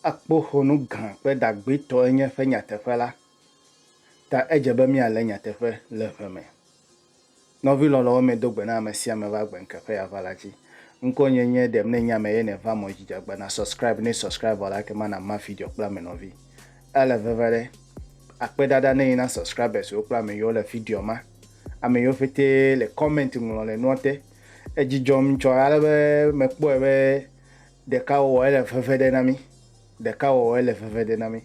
Akpoxɔnu gã kple ɖagbetɔ enye eƒe nyateƒe la ta edze be míalé nyateƒe le ʋe me. Nɔvi lɔlɔwo medo gbe na ame sia ame va gbe ŋkeke ya va la dzi. Ŋkɔ nye nye ɖem ne nyame ye ne va mɔ dzi dzagba na subscribe ne subscribe vɔ la ke ma na ma video kple ame nɔvi. Ele veve ɖe. Akpe ɖaɖa ne yi na subscribers wo kple ame yiwo le video ma. Ame yiwo ƒete le comment ŋlɔ le nua te. Edzi dzɔm ŋtsɔ ale be me kpɔe be ɖeka wɔwɔ ye le veve ɖe na mi. Ɖeka wɔwɔ ye le veve ɖe na mi.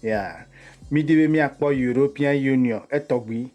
Yeah. Mi di be mia kpɔ European Union etɔgbi.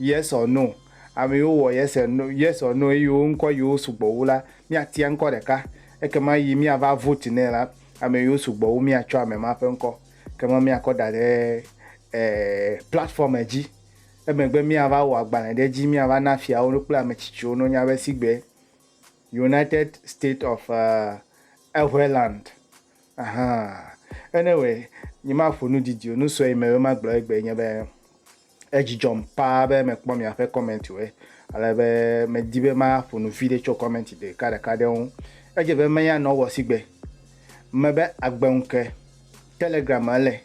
Yesɔ no. Amɛwo wɔ yese no, yesɔ no eyi wo ŋkɔ yiwo sugbɔ wu la, mía tia ŋkɔ ɖeka. Ekema yi mía va vote nɛ la, amɛ yiwo sugbɔ wu mía tsɔ amɛ ma ƒe ŋkɔ. Kema mía kɔ da ɖe e platform e dzi. Emegbe mía va wɔ agbalɛ ɖe edzi, mía va na fiawo no kple amɛtsitsiwo no nya be sigbe United State of e eŋɛ land. Ahan. Ene wɛ, nyi ma ƒo nu didi o, nu sɔe yi me be ma gblɔ egbe ye nye be, Edzi dzɔm paa be mekpɔ miaƒe kɔmɛntiwoe, ale be medi be maƒo nu vi ɖe tso kɔmɛnti ɖekaɖeka ɖewo ŋu. Edze be meya nɔ wɔ sigbe me be agbe ŋu ke Telegram me ele.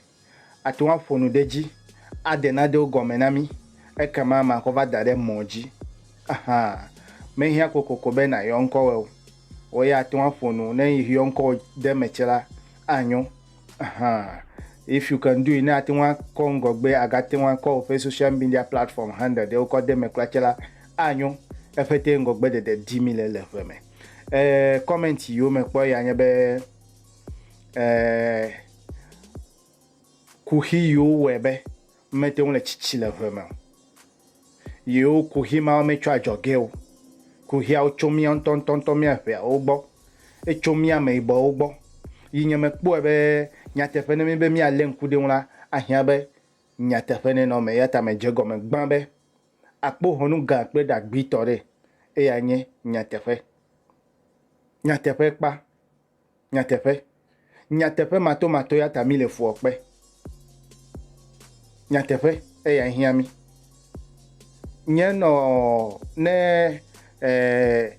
Àte ŋu aƒo nu ɖe edzi, ade nanewo gɔme na mí, ekema makɔ va da ɖe mɔ̃ dzi. Axa, mehiã kokoko be nàyɔ ŋkɔwòe o. Wò ya àte ŋu aƒo nu, ne yɔ ŋkɔwò ɖe eme tse la, anyo. hã. If you can do it, ne ate ŋu akɔ ŋgɔgbe agate ŋu akɔ woƒe social media platform handle ɖewo kɔ de eme kura tse la, anyo. Eƒetee ŋgɔgbedede dim mile le ŋe me. Eh, comment yiwo mekpɔ ya nye be eh, kuxi yiwo wɔe be Mete ŋu le tsitsi le ʋe me o. Yewo kuxi mawo me tso adzɔgee o. Kuxiawo tso mía ŋutɔŋutɔŋutɔ mía ŋɛawo gbɔ. Etso mía ameyibɔwo gbɔ. Yi nye mekpɔe be nyateƒe ne míbe míalé ŋku ɖe eŋu la, ahiã be nyateƒe nenɔ eme. Eya ta medze egɔme gbã be akpoxɔnu gã kple ɖagbitɔ ɖe, eyae nye nyateƒe. Nyateƒe kpa. Nyateƒe. Nyateƒe matomato ya ta mile fuɔ kpe. Nyateƒe eya hiã mi. Nye nɔ ne eh,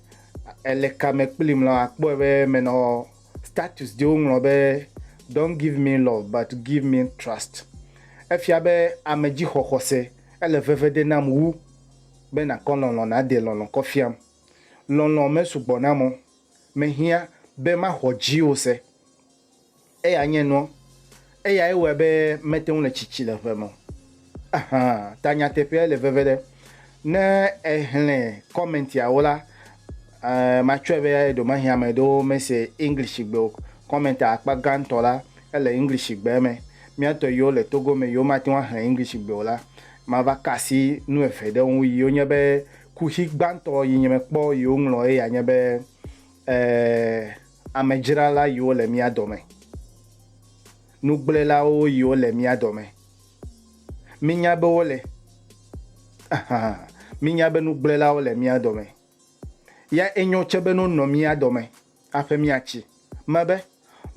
ele kame kplim la akpɔe be menɔ status ɖewo ŋlɔ be don't give me love but give me trust. Efia be ame dzi xɔxɔse ele veve ɖe nam wu be nakɔ lɔlɔ nade lɔlɔ kɔ fiam. Lɔlɔ me sugbɔ nam o Mehiã be maxɔ dziwò se. Eya nye nuɔ. Eyae wɔe be mete ŋu le tsitsi le ʋe me o. Ahan, ta nyateƒeae le veve ɖe. Ne èxlẽ kɔmɛntiawo la, e, matsɔe be ɖewomahi ame aɖewo mese Englishgbe o. Kɔmɛntia akpa gãtɔ la, ele Englishgbe me. Mía tɔ yiwo le Togo me yiwo mate ŋu axlẽ Englishgbe o la, mava ka asi nu eve ɖe wo ŋu yiwo nye be Kuxi gbãtɔ yi nye me kpɔ yi wo ŋlɔ eya nye be, E, amedzrala yi wo le mía dɔme, nugblẽlawo yi wo le mía dɔme. Mi nya be wo le, ahan, mi nya be nugblẽlawo le mía dɔme. Ya enyo tse be no nɔ mía dɔme. Aƒe mia tsi me be,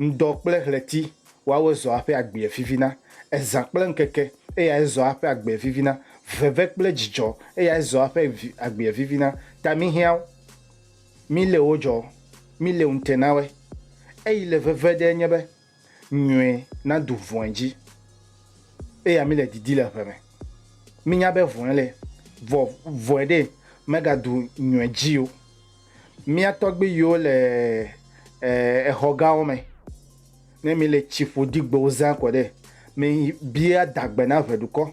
Ŋdɔ kple ɣleti woawoe zɔa aƒe agbea vivina, ezã kple ŋkeke eyae zɔa aƒe agbea vivina, veve kple dzidzɔ eyae zɔa aƒe agbea vivina, ta mi hiãwo, mi le wo dzɔ, mi le ŋte na woe. Eyi le veve ɖee nye be, Nyɔe nadu vɔ̃e dzi. Eya mi le didi le ʋe me. Mi nya be vɔ̃e le, vɔ vɔe ɖe mega du nyɔe dzi o. Mia tɔgbi yiwo le exɔ gawo me, ne mi le tsi ƒodi gbewo zã kɔ ɖe, mi bia adagbe na ʋe ɖukɔ,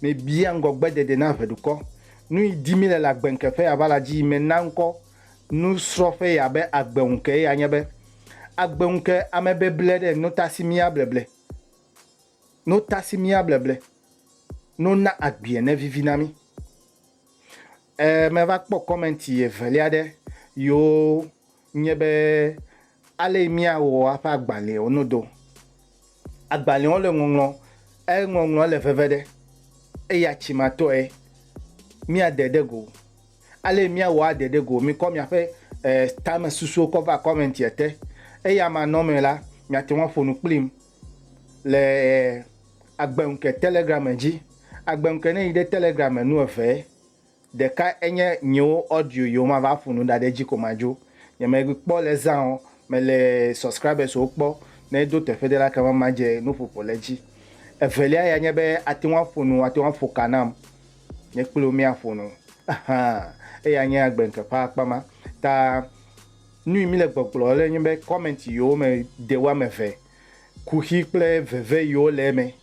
mi bia ŋgɔgbe dede na ʋe ɖukɔ. Nuyi di mi le le agbe ŋke ƒe ava la dzi yi me na ŋkɔ. Nusrɔ̃ƒe ya be agbe ŋukee ya nye be agbe ŋuke ame beble ɖe notasimia bleble notasimia bleble no na agbea ne vivi na mi. E me va kpɔ comment evelia ɖe yo nye be ale mia wo aƒe agbalẽwo no do Agbalẽwo le ŋɔŋlɔ, eye ŋɔŋlɔ le veve ɖe, eya tsimatɔe míade ɖe go. Ale míawɔ ade ɖe go, mikɔ miaƒe tamesusuwo kɔ va kɔmɛntia te. Eya manɔmee la, miate ŋu aƒo nu kplim le agbeŋke Telegram dzi. Agbeŋke ne yi ɖe Telegram me nu eve. Ɖeka enye nyewo audio yiwo mava ƒo nu ɖa ɖe edzi ko madzo. Nye me kpɔ le zã o, me le subscribers wo kpɔ ne do teƒe ɖe la kema ma dze nu ƒoƒo le edzi. Evelia ya nye be ate ŋu aƒo nu, ate ŋu aƒo ka nam, nye kple wo mía ƒo nu. Ahaa, eya nye agbe ŋke ƒe akpa ma. Ta nuyi mi le gbɔgblɔ le nye be comment yiwo me de woame eve kuxi kple veve yiwo le eme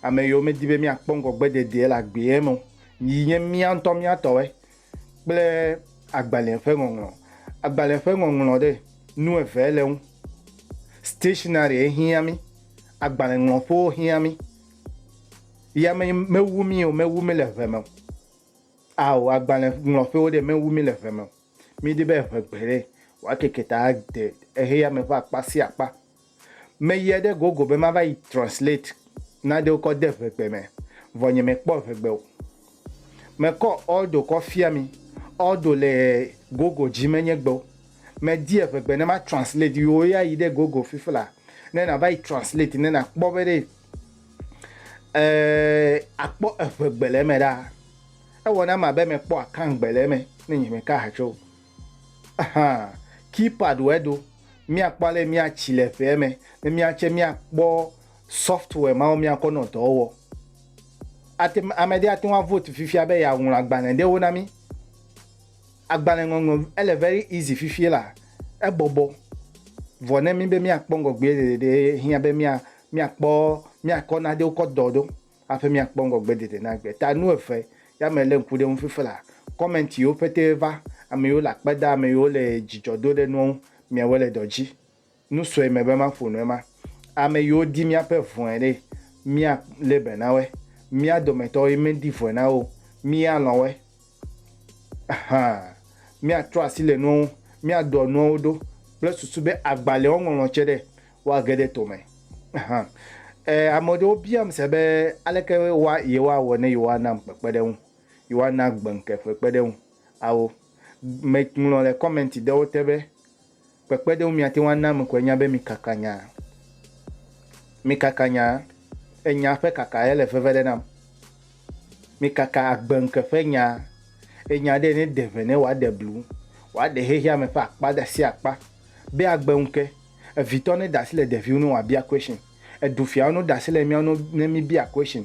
Ame yiwo medi be míakpɔ ŋgɔgbedede le agbea me o, yi nye mía ŋutɔ mía tɔwoe, kple agbalẽ ƒe ŋɔŋlɔ. Agbalẽ ƒe ŋɔŋlɔ ɖe, nu eve le eŋu. Stationary hiã mí, agbalẽŋlɔƒewo hiã mí. Ya me, mewu mí o, mewu mí le ŋe me o. Ao, agbalẽŋlɔƒewo ɖe, mewu mí le ŋe me o. Míedi be ŋe gbeɖe wòakeke ta ade xexeame ƒe akpa sia akpa. Meyie ɖe Google be mava yi translate nanewo kɔ de ŋegbe me, vɔ nye me kpɔ ŋegbe o. Me kɔ Aldo kɔ fia mi, Aldo le Google dzi me nye gbewo. Me di eŋegbe ne ma translate yi wo ya yi ɖe Google fifi la ne na va yi translate ne na kpɔ be ɖe a kpɔ eŋegbe le eme ɖaa. Ewɔ nam abe me kpɔ akangbe le eme ne nye me ka ha tso Ahan, keypad wɔe do. Míakpɔ ale míatsi le ƒea me ne míatse míakpɔ software mawo míakɔ nɔ dɔ wɔwɔ. Ate, ame ɖe ate ŋu avote fifia be yeaŋlɔ agbalẽ ɖewo na mí. Agbalẽ ŋɔŋlɔ, ele very easy fifia elaa, ebɔbɔ. Vɔ ne mí be míakpɔ ŋgɔgbee ɖeɖe ɖee hiã be mía, míakpɔ, míakɔ nanewo kɔ dɔ ɖo. Hafi míakpɔ ŋgɔgbedede na agbe ta nu eve ya me lé ŋku ɖe eŋu fifi la, comment yiwo pɛtɛ va, ame yiwo le akpe da, ame yiwo le dzidzɔ do ɖe nua ŋu, miawoe le dɔ dzi. Nu sue mebe maƒo nu ema, ame yiwo di míaƒe vɔ̃e ɖe, mía lé be na woe. Mía dometɔ yi medi vɔ̃e na wo o, mí ya lɔ̃ woe. Ahan, míatrɔ asi le nua ŋu, míaɖɔ nuawo ɖo kple susu be agbalẽwo ŋɔŋlɔ tse ɖe Woage ɖe to me. Hã. Ẽ, ame aɖewo biam se be, Aleke woa, yewoawɔ ne yewoanam kpekpeɖeŋu, yewoana gbeŋke ƒe kpeɖeŋu awo? Me ŋlɔ le kɔmɛnti ɖewo te be, Kpekpeɖeŋu miate ŋu ana ame koe nya be mikaka nyaa. Mikaka nyaa. Enya ƒe kaka ye le veve ɖe nam. Mikaka agbeŋke ƒe nyaa. Enya ɖe ne ɖe ʋe ne wòaɖe blu, wòaɖe xexeame ƒe akpa ɖe asi akpa be agbeŋke. Evitɔ ne ɖasi le ɖeviwo nu wa bia question. Edu fiawo no ɖasi le miawo nu ne mi bia question.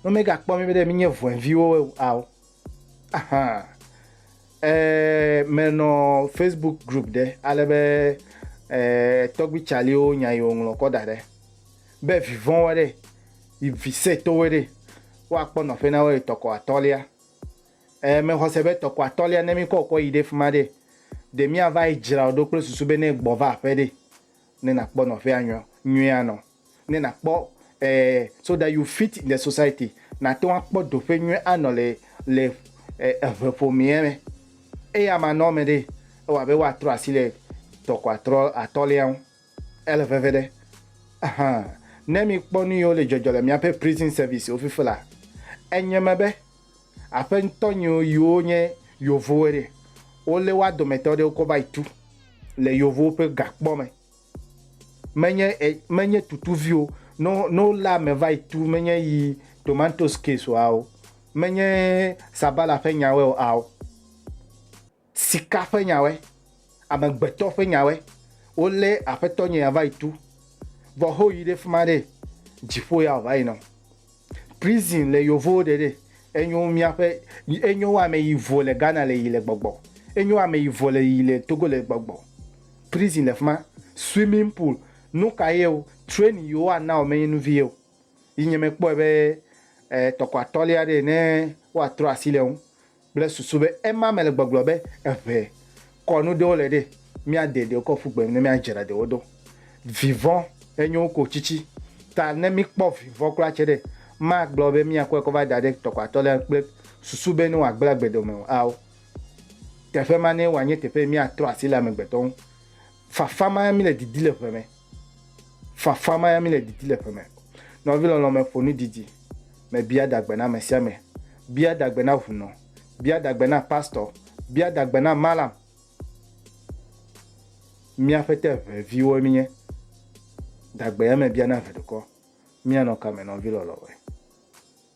No me ga kpɔ mi be ɖe mi nye vɔɛ viwo ao. Ahan. E me nɔ Facebook group ɖe ale be e tɔgbi caliwo nya yi wo ŋlɔ kɔ da ɖe. Be vivɔn wɔ ɖe yi vi se to we ɖe. Wa kpɔ nɔƒe na wo etɔ kɔ atɔlia. Ẽ, mexɔse be tɔkɔ atɔ̃lia ne míkɔ wòkɔ yi ɖe fi ma ɖe, ɖe míava yi dzra wò ɖo kple susu be ne gbɔva aƒe ɖe, ne nàkpɔ nɔƒea nyɔ, nyuie anɔ, ne nàkpɔ, ẽ, so that you fit in the society, nàte ŋu akpɔ doƒe nyuie anɔ le, le, ẽ, eve ƒomea me. Eya manɔme ɖe, ewɔ abe woatrɔ asi le tɔkɔ atrɔ, atɔ̃lia ŋu. Ele veviɖe ahan ne mikpɔ nuyiwo le dzɔdzɔ le miaƒe prison service-wo fifi la. Enye me be aƒe ŋutɔ nyiwo yiwo nye yovowoe ɖe, wolé woa dometɔ ɖewo kɔ va yi tu le yovowo ƒe gakpɔ me. Menye e, menye tutuviwo no, no lé ame va yi tu menye yi tomatoes case-o ao, menye sabala ƒe nyawoe o ao. Sika ƒe nyawoe, amegbetɔ ƒe nyawoe, wolé Aƒetɔnye ya va yi tu, vɔ ho yi ɖe fima ɖe, dziƒo ya ɔva yi nɔ. Prison le yovowo ɖe ɖe, enyo miaƒe, enyo wo ame yi vo le Ghana le yi le gbɔgbɔ, enyo wo ame yi vo le yi le Togo le gbɔgbɔ. Prison le fima, swimming pool, nuka ye o, training yi wo a na wo me nye nuvi ye o. Yi nye me kpɔe be, eh, tɔkɔ atɔlia ɖe ne wo a trɔ asi le ŋu, kple susu be ema mele gbɔgblɔ be eŋe kɔ nu ɖewo le ɖe, míade ɖewo kɔ ƒu gbe ne míadzra ɖewo ɖo. Vivɔ enyo wu ko tsitsi, ta ne míkpɔ vivɔ kura tse ɖe, magblɔ be míakɔe kɔ va da ɖe tɔkpatɔ lea kple susu be ne wòagblẽ agbe dome o ao. Teƒe ma nee wòanye teƒe yi míatrɔ asi le amegbetɔ ŋu. Fafa mae míle didi le ŋe me. Fafa ma ya míle didi le ƒe me. Nɔvi lɔlɔ̃ me ƒo nu didi me bia dagbe na ame sia ame. Bia dagbe na ŋunɔ. Bia dagbe na pastɔ. Bia dagbe na malam. Mía ƒete eve viwoe míenye. Dagbe ya me bia na eve dukɔ. Míanɔ kame nɔvi lɔlɔ̃ me.